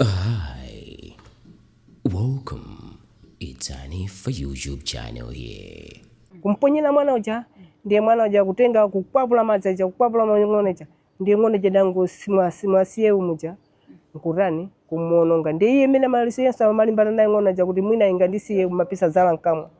Hi, welcome. It's Hanifa YouTube channel here. kumponyera mwana uja ndiye mwana uja kutenga kukwapula madzi aja kukwapula ma ng'ona ija ndiye ng'ona ija idangomusiya muja nkutani kumuononga ndiye iye imene maliso onse amalimbana nayo ng'ona ija kuti mwina ingandisiye amapisa zala mkamwa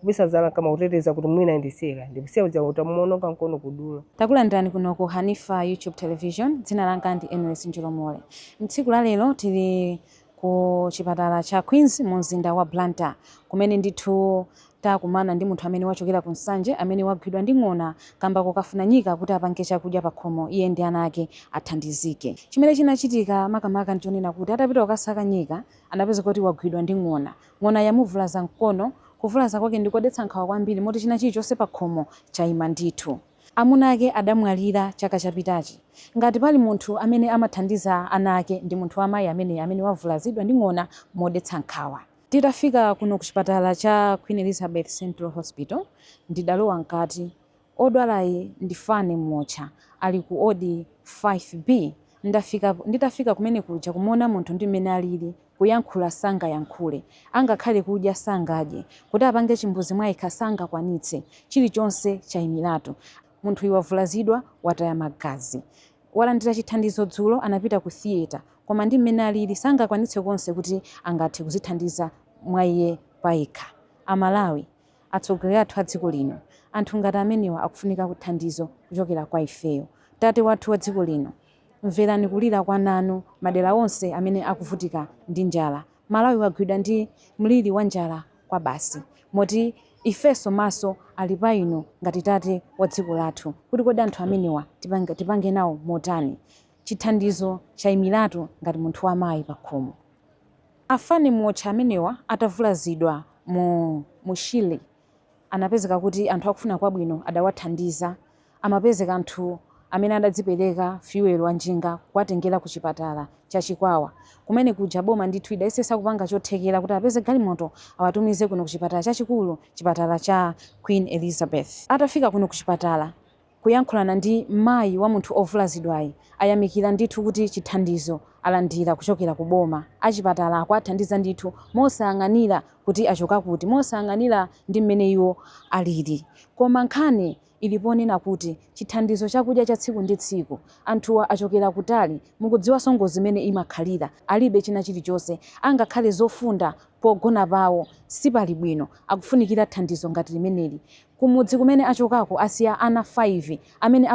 Kupisa zala mkamwa kuteteza kuti mwina indisiye ndiye ikusiya uja itamuononga mkono kudula. Takulandirani kuno ku Hanifa YouTube Television, dzina langa ndi Eneries Njolomole. Mtsiku la lero tili ku chipatala cha Queens mu mzinda wa Blantyre kumene ndithu takumana ndi munthu amene wachokera ku Nsanje amene wagwidwa ndi ng'ona kamba kokafuna nyika kuti apange chakudya pakhomo iye ndi ana ake athandizike. Chimene chinachitika makamaka nchonena kuti atapita kukasaka nyika anapezeka kuti wagwidwa ndi ng'ona Ng'ona yamuvulaza mkono. Kuvulaza kwake ndi kodetsa nkhawa kwambiri moti china chilichonse pakhomo chaima ndithu. Amuna ake adamwalira chaka chapitachi. Ngati pali munthu amene amathandiza ana ake ndi munthu wa mayi ameneyi amene wavulazidwa ndi ng'ona modetsa nkhawa. Titafika kuno kuchipatala cha Queen Elizabeth Central Hospital, ndidalowa mkati. Odwalayi ndi Fanny Muotcha ali ku odi 5B. Nditafika kumene kuja kumuona munthu ndi mmene alili, kuyankhula sangayankhule, angakhale kudya sangadye, kuti apange chimbuzi mwayekha sangakwanitse, chilichonse chaimiratu. Munthuyu wavulazidwa, wataya magazi. Walandira chithandizo dzulo, anapita ku theatre, koma ndi mmene alili sangakwanitse konse kuti angathe kuzithandiza mwa iye payekha. Amalawi! atsogoleri athu a dziko lino. Anthu ngati amenewa akufunika kuthandizo kuchokera kwa ifeyo. Tate wathu wa dziko lino, mverani kulira kwa ana anu madera onse amene akuvutika ndi njala. Malawi wagwidwa ndi mliri wa njala kwabasi, moti ifenso maso ali pa inu ngati tate wa dziko lathu kuti kodi anthu amenewa tipange nawo motani? Chithandizo chaimiratu ngati munthu wa mayi pakhomo. A Fanny Muotcha amenewa atavulazidwa mu Shire anapezeka kuti anthu akufuna kwabwino adawathandiza. Amapezeka anthu amene adadzipereka Fuel wa njinga kuwatengera ku chipatala cha Chikwawa kumene kuja boma ndithu idayesesa kupanga chothekera kuti apeze galimoto awatumize kuno ku chipatala chachikulu chipatala cha Queen Elizabeth. Atafika kuno ku chipatala. kuyankhulana ndi mayi wa munthu ovulazidwayi ayamikila ndithu kuti chithandizo alandila kuchokera ku boma. Achipatala akuwathandiza ndithu mosayang'anila kuti achoka kuti, mosayang'anila ndi mmene iwo alili. Koma nkhani ili ponena kuti chithandizo chakudya cha tsiku ndi tsiku, anthuwa achokera kutali, mukudziwaso ngozi mmene imakhalira, alibe china chilichonse angakhale zofunda pogona pawo sipali bwino, akufunikira thandizo ngati limeneli. Kumudzi kumene achokako asiya ana 5 amene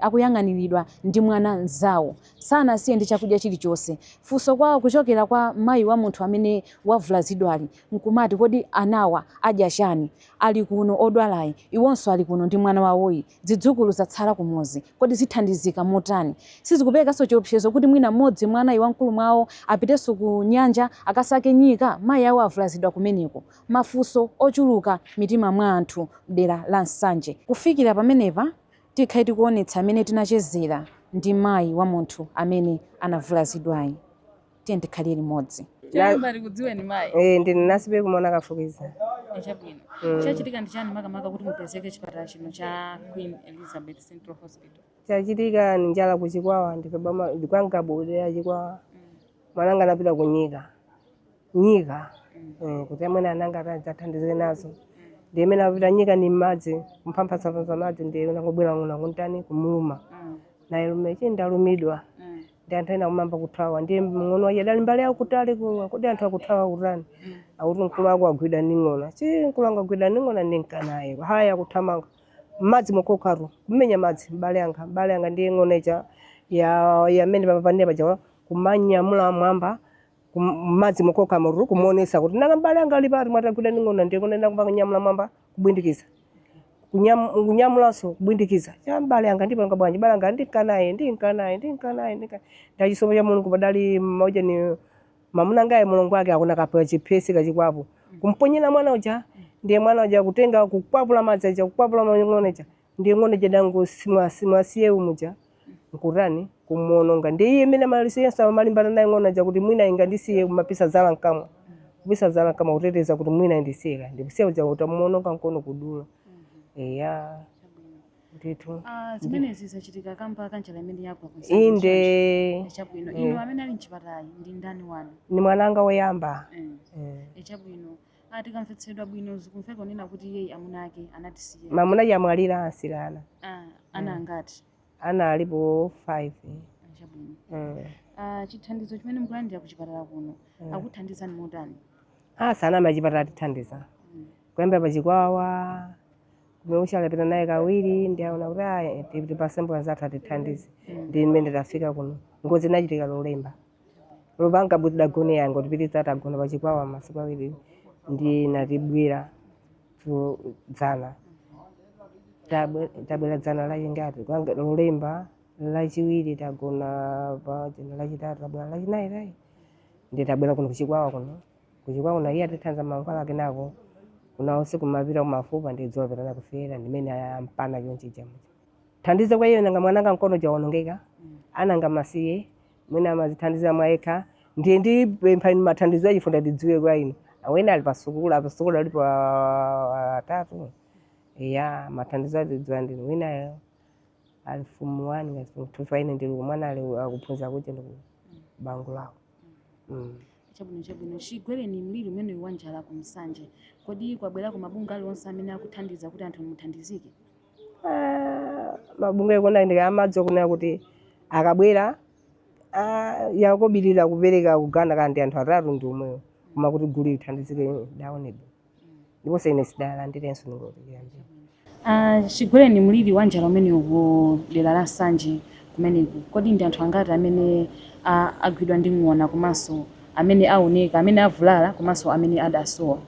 akuyang'aniridwa ndi mwana mnzawo. Sanasiye ndi chakudya chilichonse. Funso kwa kuchokera kwa mayi wa munthu amene wavulazidwali nkumati kodi anawa adya chani? Ali kuno odwalayi, iwonso ali kuno ndi mwana wawoyi. Zidzukulu zatsala kumuzi. Kodi zithandizika motani? Sizikuperekanso chiopsezo kuti mwina m'modzi mwa anayi wamkulu mwa iwo apitenso ku nyanja akasake nyika? Mayi awo avulazidwa kumeneko. mafunso ochuluka m'mitima mwa anthu mdera la Nsanje. Kufikira pamenepa tikhale tikuonetsa mmene tinachezera ndi mayi wa munthu amene anavulazidwayi. Tiyeni tikhalire limodzi. Choyamba tikudziweni mayi. Eh, ndine Nasibe Kumona Kafukiza. Eh, Chabwino. Mm. Chachitika ndi chani makamaka kuti mupezeke chipatala chino cha Queen Elizabeth Central Hospital? Chachitika ni njala ku Chikwawa ndife bama ndi kwa Ngabu dera Chikwawa. Mm. Mwananga anapita ku nyika. nyika eh, kuti amene ana anga athandizike nazo ndiye mmene apita nyika ni mmadzi kumphamphasapansa madzi ndiye inangobwera ng'ona kuntani kumuluma naye lume tche ndalumidwa ndi anthu ena kuyamba kuthawa ndiye mng'ono wache dali mbali ya kutali kuwa kodi anthu akuthawa kutani akuti mkulu wako agwidwa ndi ng'ona chi mkulu wanga agwidwa ndi ng'ona ndinkanaye haya akuthamanga mmadzi mokokatu kumenya madzi mbale wanga mbale wanga ndiye ng'ona ija ya imene papapanira paja kumanyamula mmwamba kum- m'madzi mokoka mururu kumuonesa kuti nanga mbale wanga ali pati mwati agwidwa ndi ng'ona ndiye kunena kumba kunyamula mmwamba kubwindikiza Kunyam- kunyamulanso kubwindikiza cha mbale wanga ndipanga bwanji mbale wanga ndinkanaye ndinkanaye ndinkanaye ndinka ndachisomo cha mulungu padali mauja ni mamuna ngaye mulungu wake akuna kapewa chiphesi kachikwapo kumponyera mwana uja ndiye mwana uja kutenga kukwapula madzi aja kukwapula ng'ona ija Ndiye ng'ona ija idangosi mwasi mwasiye umuja nkutani? Kumuononga. Ndiye iye mmene amaliso yense amalimbana naye ng'ona ija kuti mwina ingandisiye kumapisa zala mkamwa. Kupisa zala mkamwa kuteteza kuti mwina indisiye kaya. Ndikusiya uja itamuononga mkono kudula. Eya. Chabwino. Ndithu. Ah, Ndi. zimenezi zachitika kamba ka njala imene yagwa ku Nsanje Inde. Nsanje. Chabwino. Inu Eh. amene ali mchipatala ndi ndani wanu? Ni mwananga woyamba. Eh. Eh. Eh, chabwino. Ah, tikamvetsetsa bwino zikumveka kunena kuti iyeyi amuna ake anatisiya. mamuna wache amwalira anansiira ana Ah, ana angati? ana alipo 5 Ah, Chabwino. mm. Ah, chithandizo chimene mukulandira ku chipatala kuno akuthandizani motani? asa ana amachipatala atithandiza Mm. kuyambira pachikwawa kumeucha alapita naye kawiri ndiye aona kuti aya tipase mbale zathu atithandize ndi mmene tafika kuno ngozi inachitika lolemba lupanga budagone yonga tipititsa tagona pa chikwawa masiku awiri ndi natibwera tu dzana Tabwe- tabwera dzana la chingati Kwanga- lolemba lachiwiri tagona pa dzana lachitatu tabwera lachinayi tayi ndi tabwera kuno kuchikwawa kuno kuchikwawa kuno iye atithandiza mankhwala kenako kuna usiku mapita kumafupa ndi dzuwa pitana kufera ndimene ampana chonchija thandizo kwa iye nanga mwananga mkono waonongeka ananga masiye mwina amazithandiza mwayekha ndiye ndipempha inu mathandizo achifundo ndidziwe kwa ine awene ali pasukulu a pasukulu alipo ah, atatu ya mathandizo adzidziwa ndinu winayo ali fumu wani ngati fumu two faine ndili kumwana ali akuphunzira kuti ndi banja lawo mm. chabwino chabwino chigwereni mliri umenewu wa njala ku Nsanje kodi kwabwerako mabungwe aliwonse amene akuthandiza kuti anthu muthandizike Ah, mabungwe akona ndika amadzi okunena kuti akabwera ah, yakobirira kupereka kugawana ndi anthu atatu ndi omwewo koma kuti gulu lithandizike daonebe ndiponso ine sidalandirenso ndingotiyambira Ah, chigwereni mliri wa njala umenewu ku dera la Nsanje kumeneku kodi ndi anthu angati amene ah, agwidwa ndi ng'ona komanso amene aoneka amene avulala komanso amene adasowa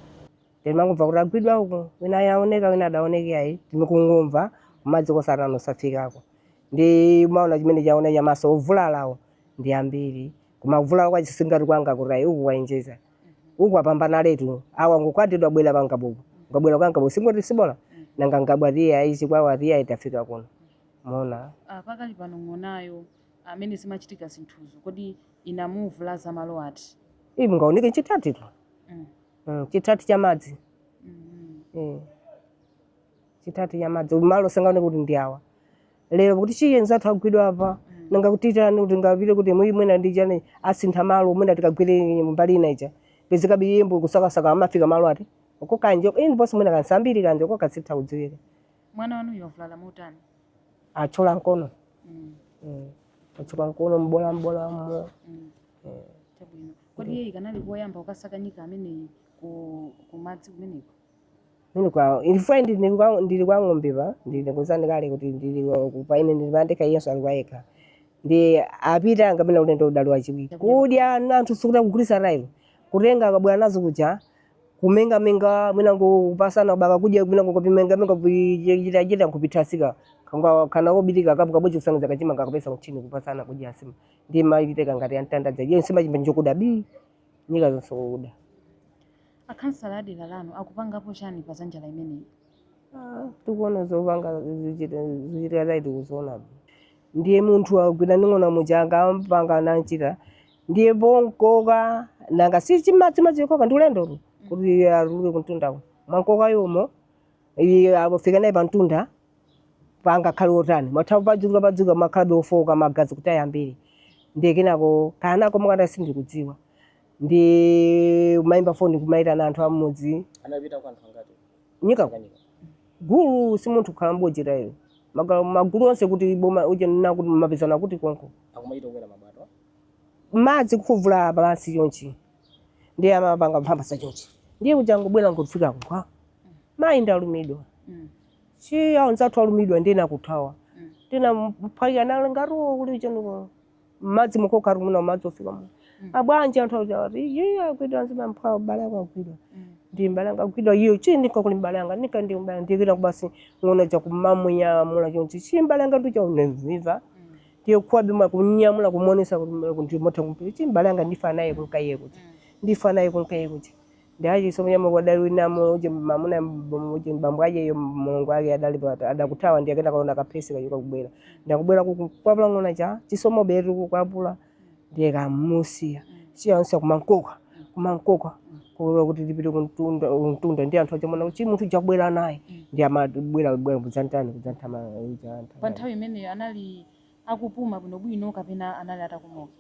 Timangomva kuti agwidwa uku, wina aoneka, wina adaoneke ayi. Timangomva kumadzi kosatana osafikako. Ndi maona chimene chaona cha maso ovulalawo ndi ambiri. Koma kuvulala kwa chisingati kwanga kuti ayi uku kwaonjeza. Uku apambana letu. Awa ngokwadidwa bwera pa nkabuku. Ngabwera kwa nkabuku singoti sibola. Nanga ngabwa tiye ayi chikwawa tiye ayi tafika kuno. Mona. Ah, pakali pano ng'onayo amene zimachitika zinthuzo kodi inamuvulaza malo ati Ii, mungaoneke chitati tu mm. mm, chitati cha madzi Mm. mm. chitati cha madzi malo sangaone kuti ndi awa lero kuti chiye nzathu agwidwa apa Mm. nanga kuti tani kuti ngapite kuti mwi mwina ndi chani asintha malo mwina tikagwire mbali ina ija pezekabe iyembo kusakasaka amafika malo ati uko kanje ini ponse mwina kansambiri kanje uko kasitha kudziwika mwana wanuyo wavulala motani atchola mkono mm. mm. atchola mkono mbola mbola mo mm. eh. chabwino kodi iye ikanali koyamba kukasaka nyika ameneyi kumadzi kumeneko mini kwawo ilifai ndili kwa ng'ombe pa ndakuuzani kale kuti ndili paine ndili pandekha iyenso ali kwayekha ndi apita kapena ulendo udali wachiwiri kudya anthu sikuti akugulitsa railo kutenga akabwera nazo kuja kumenga menga mwina ngopasana basi kudya mwina ngokopimenga menga kuchita chita nkupithasika kanga kana obitika kabu kabu chikusangidza kachima kakapesa mchini kupasana kudya asima ndi maitite kangati antandadza iyo nsima chimba njokuda bi nyika zonse kuda akhansala a dera lanu akupangapo chani pa za njala imeneyi Ah, tikuona zopanga zichitika zaiti kuziona ndiye munthu agwira ndi ng'ona muja anamupanga nanchita ndiye bonkoka nanga si chima chima chikoka ndi ulendotu kuti abuluke kuntunda ku mwankoka yomo iye afika naye pantunda panga khali otani mwathawa padzuka padzuka makhalabe ofoka magazi kuti ayambire ndiye kenako kanako mukati sindikudziwa ndi mayimba foni kumayitana anthu amudzi anapita kwa anthu angati nyika ku- Tanganyika gulu si munthu kukhala mbojera iyo Maga- magulu onse kuti boma uja nina kuti mapezana kuti konko akumayita kukwera mabwato madzi kufuvula pansi chonchi ndiye amapanga mphambasa chonchi ndiye kuja ngobwera ngofika kwa mayi ndalumidwa si anzathu alumidwa ndiye nakuthawa tina mphwanya nalo ngaro kuli choniko madzi mukoka rumuna madzi ofika mu abwanja anthu auzati iye agwidwa nzima mphwawo mbalanga agwidwa ndi mbalanga agwidwa iyo chi ndika kuli mbalanga nika ndi mbalanga ndikira kubasi ng'ona ja kumamnyamula chonchi chi mbalanga ndicha uneviva ndiye kuwabe mwa kunyamula kumuonesa kuti mwe- kuti motha kumpi chi mbale anga ndifa naye kunka iye kuti ndifa naye kunka iye kuti ndi aje so mnyamula adali wina mo uje mamuna mbomo uje mbambo aje yo mulungu ake adali pa adakuthawa ndi akenda kaona kapesi kajuka kubwera ndakubwera kuku kwapula ng'ona ja chisomo betu kukwapula ndiye ka musiya siya onse kumankoka kumankoka kulo kuti tipite kumtunda kumtunda ndiye anthu achamona kuti munthu jakubwera naye ndiye amabwera bwera kudzantani kudzantama pa nthawi imeneyo anali akupuma bwinobwino kapena anali atakomoka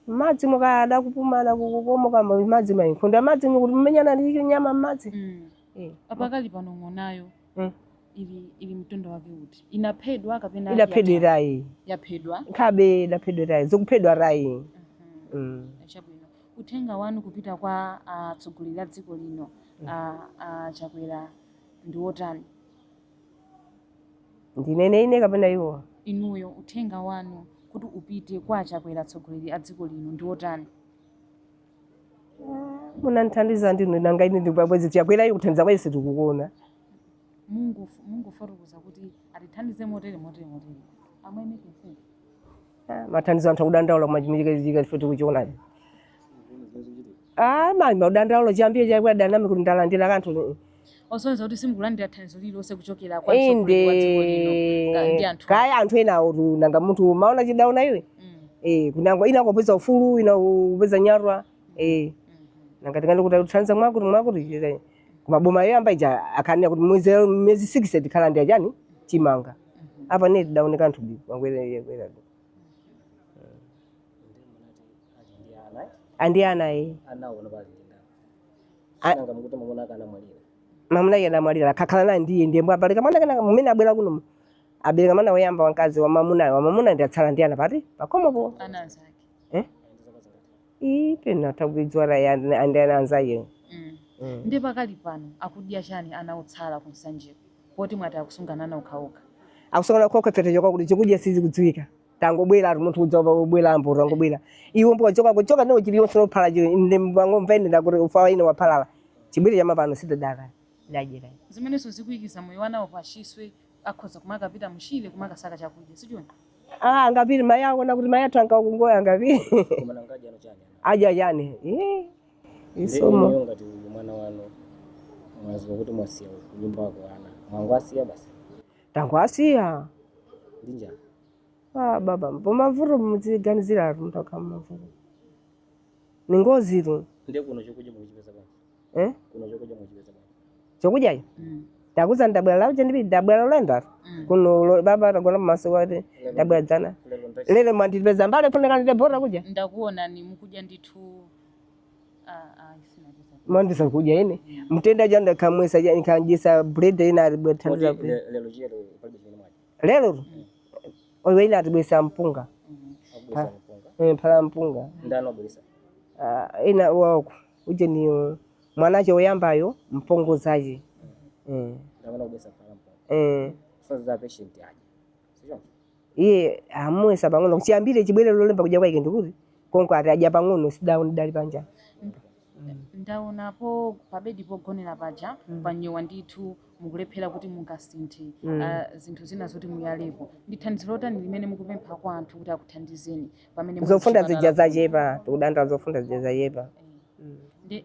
madzi mukaya adakupuma adakukomoka madzi mayinkhondo ya madzi kuti mumenyana ndi chinyama mmadzi Mm. Eh. apakali pano ng'onayo Mm. ili ili mtundu wake uti inaphedwa kapena idaphedwa tayi yaphedwa nkhabe idaphedwa tayi zikuphedwa tayi Mhm. mm. chabwino uthenga wanu kupita kwa atsogoleri a dziko lino a a Chakwera ndi wotani ndinene ine kapena iwo inuyo uthenga wanu kuti upite kwa a Chakwera atsogoleri a dziko lino ndi wotani munandithandiza ndinu nanga ine ndi bwa- bwezi Chakwera iyo kuthandiza kwese sitikukuona mungo mungofotokoza kuti atithandize motere motere motere. amwene kwese Ah, mathandizo anthu akudandaula kumachimikachika ife tikuchionacho ah mani madandaula chiyambire Chakwera ndiname kuti ndalandira kanthu osonyeza kuti simukulandira thandizo lililonse kuchokera kwa inde mtsogoleri wa dziko lino ka- ndi anthu kaya anthu enawotu nanga munthu maona chidaona iwe Mm, eh kunango ina kupeza ufulu ina kupeza nyatwa eh mhm. nanga tikana kuti uthanza mwakuti mwakuti chira koma boma yoyamba ija akanena kuti mwezi miyezi 6 tikhala ndi ajani chimanga apa ne tidaoneka anthu bi mangwele kwera andi ana eh anaona pali A- nanga mukuti mwamuna ake anamwalira mamuna ya anamwalira akakhala naye ndiye ndiye mpabale ka mwana kano mumene abwera kuno mu. abereka mwana woyamba wamkazi wamamuna wamamuna ndi atsala ndi ana pati pakomopo ana anzake eh ii pena takuidzwala ya ndi ana anzaye Mm. Mm. ndi pakali pano akudya chani ana otsala ku Nsanjeko poti mwati akusungana ana okhaokha akusungana okha mpaketecho chokuti chikudya sichikudziwika tangobwera ati munthu udzoona kubwera mpo tangobwera ife mpo kuchoka kuchoka ndo chili yonse lophala chili ndi ndangomva ine ndakuti ufa ine wapalala chibwere cha mapano sitadaka ndajira zimenenso zikuikiza moyo wanawo pachiswe akhoza kumakapita mchire kumakasaka chakudya si choncho ah angapiri mai aona kuti mai athu ankakungoya angapiri koma nangaja ndi chani aja chani eh isomo isomo ngati uyu mwana wanu mwaziwa kuti mwasiya kunyumba kwako ana mwangowasiya basi tangowasiya ndi njala ah, baba pamavuto mudziganizira atu munthu akhala mumavuto ni ngozi tu ndiye kuno chokudya mukuchipeza bwanji eh? kuno chokudya mukuchipeza bwanji chokudyayo ndakuuza ndabwera lakuja ndipi ndabwera Lolemba kuno lo- baba tagona m'mawa ati ndabwera dzana lero ndachi lero mwandipeza mbale funeka ndite bola kudya ndakuonani mukudya ndithu mandisa kuja ine mtenda janda kamwesa ja nkanjisa bread ina ribetandira bread lero owe ina ribesa mpunga eh pala mpunga Ah, ina wako uje ni uh, mwanache oyambayo mpongozaje eh eh iye amuyesa pang'ono kuchiyambire chibwere lolemba kudya kwake ndikuti konko ati adya pang'ono sindaone ndidali panja ndaonapo pabedi pogonera paja Mm. panyowa ndithu mukulephera kuti mungasinthe Mm. ah, zinthu zina zoti muyalepo ndi thandizo lotani limene mukupempha kwa anthu kuti akuthandizeni pamene muli zofunda kuchipatala zija kuno? zachepa tikudandaula zofunda zija zachepa Eh. Mm. Ndi-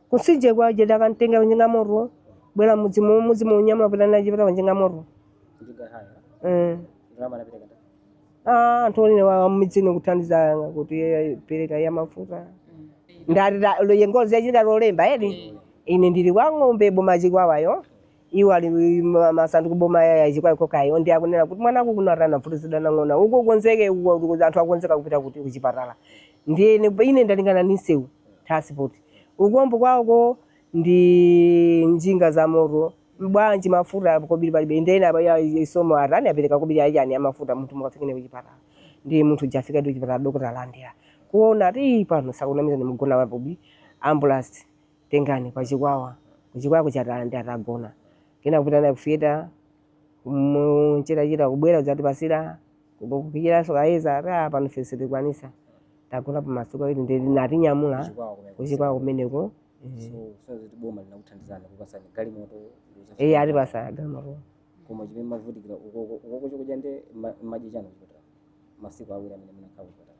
Kumtsinje kuja adakamtenga pa njinga yamoto. Bwela mudzimu mudzimu kunyamula kupita naye pa njinga yamoto. Njinga haya. Eh. Ndalama anapita kata. Ah, anthu omwe wa mumidzino kuthandiza kuti eh, pereka ya mafuta. Ndati iyo ngozi yachitika lolemba edi. Ine ndili kwa Ng'ombe boma Chikwawayo. iwo ali ma- masandu kuboma yaya Chikwawa konkoyo ndiye akunena kuti mwana wako kuno atani wathudzulidwa na ng'ona uko konzeke uko- uko- anthu akonzeka kupita kuti kuchipatala ndiye ine- ine ndalingana ndi msewu transport ukumbo kwako ndi njinga za moto bwanji mafuta kobiri palibe ndi ena aba- ya- isomo atani apereka kobiri ya chani ya mafuta munthu mukafikene kuchipatala ndi munthu uja afika ndi kuchipatala dokotala alandira kuona ati "Ii, pano sakunamizani ndimugona wapo ambulance tengani kwa Chikwawa ku Chikwawa kuchipatala ndi atagona kenaka kupita naye ku theatre mchitachita kubwera kudzatipasira kupikiranso kayeza ati "Ah, pano ife sitikwanisa tagona pamasiku awiri ndi anatinyamula Kuchikwawa kumene. kuchikwawa kumeneko So, so kuti boma linakuthandizani kukupasani galimoto ndizo- iye atipasa galimoto koma chimene mavutikira ukoko ukoko chokudya ndi ma- madya chani kuchipatala masiku awiri amene munakhala kuchipatala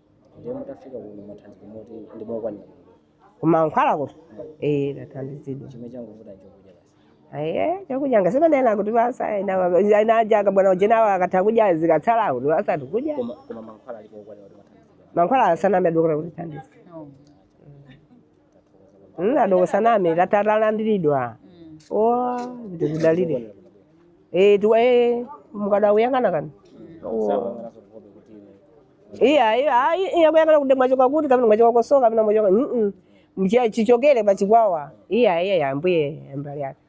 ndiye mutafika kuno thandizo moti ndi lokwanira kumankhwalako eh tathandizidwa chimene changovuta chokudya basi aye chakudya ngasemanena kuti basa ainajaga bwana ujenawo akatha kudya zikatsala kuti basa tikudya koma koma mankhwala alipo okwanira kuti tathandizidwa mankhwala ndisaname madokotala kutithandiza Mm, adoko ndisaname tata talandiridwa o ndikudalire Eh, tu- eh, mukadakuyang'ana kani Oh. iya iya ayi, iya kuyang'ana kuti mwachoka kuti kapena mwachoka kosowa kapena mwachoka mm mchiya chichokere pa chikwawa iya iya ya mbuye mbali yake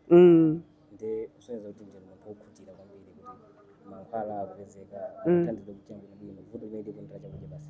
mm ndi kusonyeza kuti ndinu munthu wokhutira kwambiri kuti mankhwala akupezeka Mm. kuthandiza kukuyenda bwino vuto limene likungokhala chakudya basi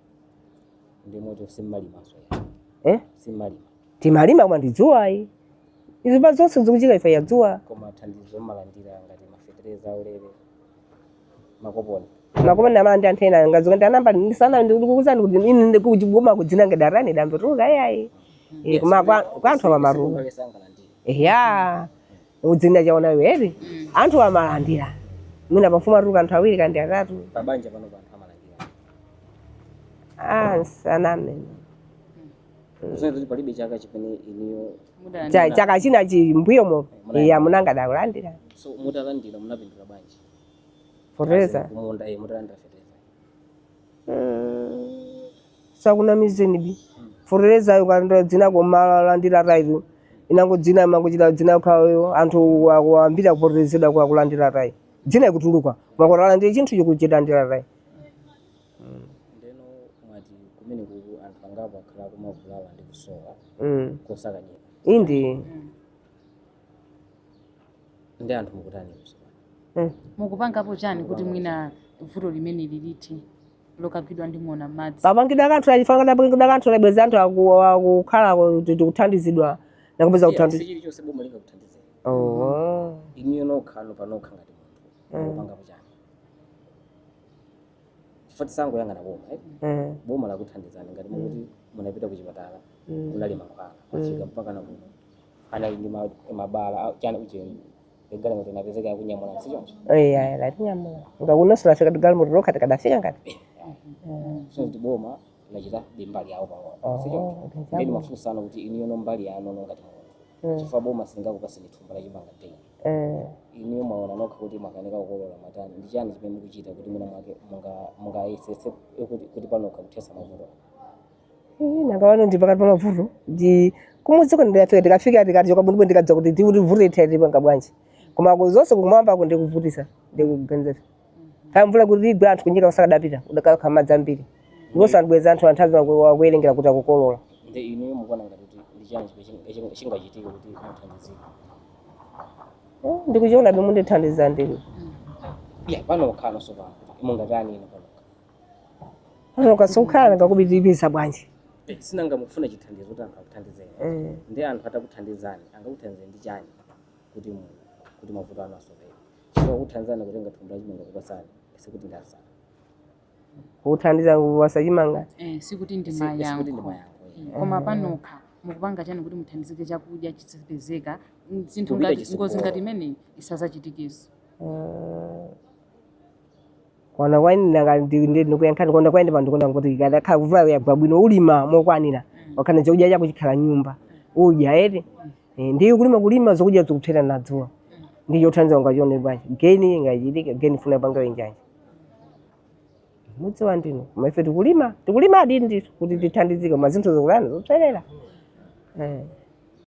ndi moto simmalimanso eh? simmalima timalima koma ndi dzuwa ayi izi pa zonse zikuchitika chifukwa cha dzuwa koma thandizo mmalandira ngati mafetereza aulere makoponi amalandira anthu ena ngazi kuti anamba ndisaname ndikukuuzani kuti ine ndikugoma kudzina ngati adalani ndinatuluka iyayi Eh, koma kwa kwa anthu amatuluka sangalandire ya udzina chaona iwe eti anthu amalandira mwina pamfumu atuluka anthu awiri kandi atatu pabanja pano anthu amalandira ah ndisaname kusonyeza kuti palibe chaka chimene inuyo Cha- chaka china chimbuyomo iya mamuna wanga adalandira so mutalandira munapindula bwanji fetereza kumunda eh, mutalandira fertilizer ndisakunamizeni bi fertilizer ungokhala dzina koma kulandira ayitu inango dzina imangochita dzina ukhalayo anthu akuti ambiri akufetereza wa kulandira ayi dzina ikutuluka koma kulandira chinthu chikuchita kulandira ayi ndiyeno mwati kumene kuku anthu angapo akhala akumavulala ndi kusowa mm. kosakanyika indi ndi anthu mukutani izo mukupangapo chiyani kuti mwina vuto limeneli lithe lokagwidwa ndi ng'ona m'madzi papangidwa kanthu chifukwa papangidwa kanthu labweza anthu aku- akukhala ku- kuti kuthandizidwa nakupeza Yes, kuthandiza chilichonse boma lingakuthandizeni Oh. inuyo nokha no panokha ngati munthu Mm. mukupangapo chiyani chifukwa tisangoyang'ana boma eh? Mm. boma lakuthandizani ngati mukuti munapita ku chipatala Mm. kunali mankhwala kwafika mpaka na kuno munali ndi ma- mabala a- chiyani ujeni galimoto inapezeka yakunyamulani sichoncho eya latinyamula ngati kunonso tafika ndi galimoto lokha tikadafika ngati so kuti boma linachita mbali yawo pang'ono Oh, sichoncho okay, ndi chabwino. funso langa ndi kuti inuyono mbali yanu no ngati munthu Mm. chifukwa boma silingakupatseni thumba la chimanga daily Eh, inuyo mwaona nokha kuti mwakanika kukolola mwatani ndi chiyani chimene mukuchita kuti mwina mwake munga- mungayesetse kuti kuti panokha kuthetsa mavuto Ih, nanga wano ndi pakati pa mavuto kumudziko ndikafika tikafika tikati tichoka bwinobwino tikadza kuti vuto ithe tipanga bwanji koma ku- zonse kumwambako ndi kuvutisa ndi kuganiza kaya mvula kuti igwe anthu kunyika kusakadapita udakakha madzi ambiri ndiponso anthu bweza anthu anthazi akuwerengera kuti akukolola nde inuyo mukuona ngati kuti ndi chiyani chimene chingachitike kuti muthandizike Eh, ndikuchiona bwa mundithandiza ndinu ya panokha nonso pano mungatani ino panokha Panokha siukhala nanga kubidibisa bwanji. Eh, sinanga mufuna chithandizo kuti anthu akuthandizeni Eh. ndi anthu atakuthandizani angakuthandizeni ndi chani kuti mu- kuti mavuto anu asapitirire chifukwa kuthandizani kutenga thumba lachimanga kukupatsani sikuti ndi asanu Kuthandiza kuwapatsa chimanga. Eh, sikuti ndi sikuti ndi mayankho mayankho eh. koma panokha mukupanga chani kuti muthandizike chakudya chizipezeka Mm, zinthu Kupita ngati chitsogolo. ngozi ngati imeneyi isadzachitikenso Eh. Kuona kwa ine nanga ndi ndi ndikuyankhani kuona kwa ine pano ndikuona kuti ikadakhala kuti mvula yagwa bwino ulima mokwanira wakolola chakudya chako chikhala m'nyumba udya eti Eh, ndiye kulima kulima zokudya zikupserera na dzuwa ndi chothandiza ungachione bwanji geni ingachitike geni funa panga bwanji mudziwa ndinu koma ife tikulima tikulima adindi kuti tithandizike koma zinthu zikula zopserera eh.